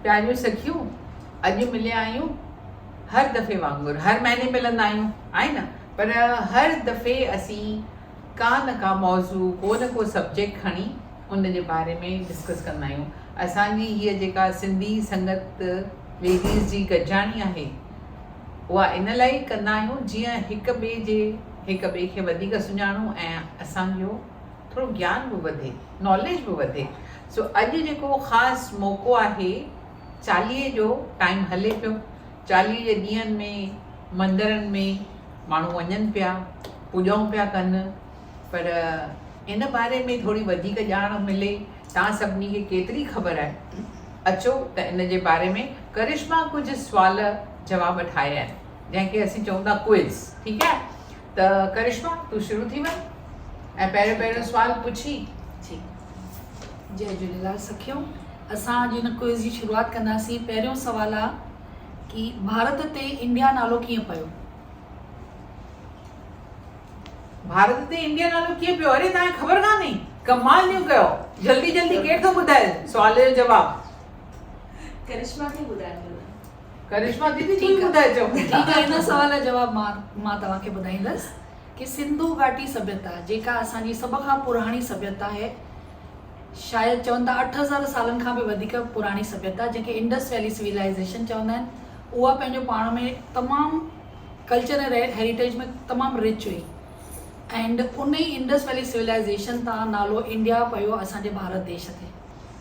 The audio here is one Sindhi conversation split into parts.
پياريون سکيون اڄ مليا آهيون هر دفعي وانگر هر مهيني ملندا آهيون آهي نه پر هر دفعي اسين ڪا نه ڪا موضوع ڪو نه ڪو سبجيڪٽ کڻي ان جي باري ۾ ڊسڪس ڪندا آهيون اسان جي هيء جيڪا سنڌي سنگت ليڊيز جي گڏجاڻي آهي اها ان لاء ئي ڪندا آهيون جيئن هڪ ٻئي جي هڪ ٻئي کي وڌيڪ سڃاڻون ۽ اسان جو ٿورو گيان به وڌي ناليج به وڌي سو اڄ جيڪو خاص موقعو آهي چاليهي جو ٽائيم هلي پيو چاليهه جي ڏينهن ۾ مندرن ۾ ماڻهو وڃن پيا، پوڄائون پيا ڪن پر ان باري ۾ ٿوري وڌيڪ ڄاڻ ملي تان سڀني کي ڪيتري خبر آهي؟ اچو ته ان جي باري ۾ ڪرشما ڪجهه سوال جواب ٺاهي آهي جنهن کي اسين چئون ٿا ڪوئز ٺيڪ آهي. ته ڪرشما تون شروع ٿي وڃ ۽ پهريون پهريون سوال پڇي جي. جي جهليلال سکيو اسان اڄ هن ڪوئز جي شروعات ڪنداسين پهريون سوال آ ڪي ڀارت تي انڊيا نالو ڪيئن پيو. ڀارت تي انڊيا نالو ڪيئن پيو اري تانکي خبر ڪانهي ڪمال جو ڪيو جلدي جلدي ڪير ٿو ٻڌائي سوال جو جواب ڪرشما ٿي ٻڌائي ڪرشما ديدي تون ئي ٻڌائي چئو. ٺيڪ آ ان سوال جو جواب مان مان توهان کي ٻڌائيندس ڪي سنڌو گهاٽي سڀيتا جيڪا اسان جي سڀ کان پراڻي سڀيتا آهي شايد چون ٿا اٺ هزار سالن کان به وڌيڪ پراڻي سڀيتا جنهن کي انڊس ويلي سويلائيزيشن چوندا آهن اها پنهنجو پاڻ ۾ تمام ڪلچر ۽ هيريٽيج ۾ تمام رچ هئي اينڊ ان ئي انڊس ويلي سويلائيزيشن تان نالو انڊيا پيو اسان جي ڀارت ديش تي.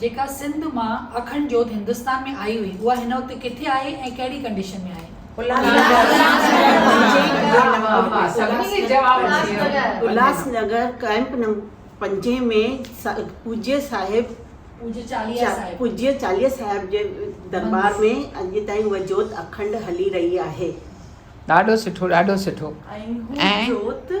جيڪا سنڌ مان اکنڊ جوت هندستان ۾ آئي هئي اها هن وقت ڪٿي آهي ۽ ڪهڙي ڪنڊيشن ۾ آهي؟ الهاس نگر ڪئمپ نمبر پنجين ۾ پوجيه صاحب پوجيه چاليه صاحب جي درٻار ۾ اڄ تائين اها جوت اکنڊ هلي رهي آهي. ڏاڍو سٺو ڏاڍو سٺو ۽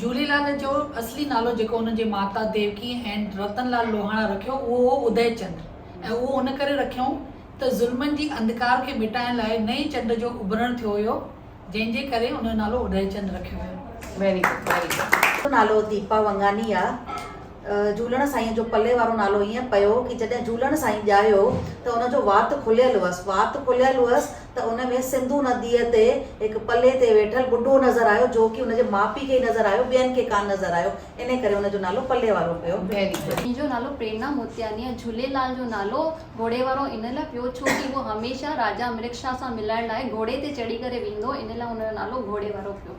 جهوليلال جو اصلي نالو جيڪو هن جي ماتا ديوڪي ۽ رتن لال لوهاڻا رکيو اهو هو ادئي چنڊ ۽ اهو ان ڪري رکيائون ته ظلمن جي انڌڪار کي مٽائڻ لاء نئين چنڊ جو اڀرڻ ٿيو هيو جنهن جي ڪري ان جو نالو ادئي چنڊ رکيو ويو. Very good Very good. منهنجو نالو ديپا ونگاني آ جهولڻ سائينء جو پلي وارو نالو ائين پيو ڪي جڏهن جهولڻ سائين ڄايو ته ان جو وات کليل هئس. وات کليل هئس ته ان ۾ سنڌو نديء تي هڪ پلي تي ويٺل ٻڍو نظر آيو جو ڪي ان جي ماء پيء کي ئي نظر آيو ٻين کي ڪانه نظر آيو انهي ڪري ان جو نالو پلي وارو پيو. منهنجو نالو پريرنا موتياني آهي. جهوليلال جو نالو گهوڙي وارو ان لاء پيو ڇو ڪي هو هميشه راجا مرڪشا سان ملڻ لاء گهوڙي تي چڙهي ڪري ويندو هو انهي لاء ان جو نالو گهوڙي وارو پيو.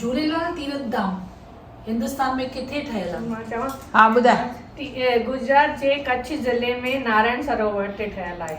جهوليلال تيرٿ ڌام هندستان ۾ ڪٿي ٺهيل آهي؟ گجرات جي ڪڇ ضلعي ۾ نارائڻ سروور تي ٺهيل آهي.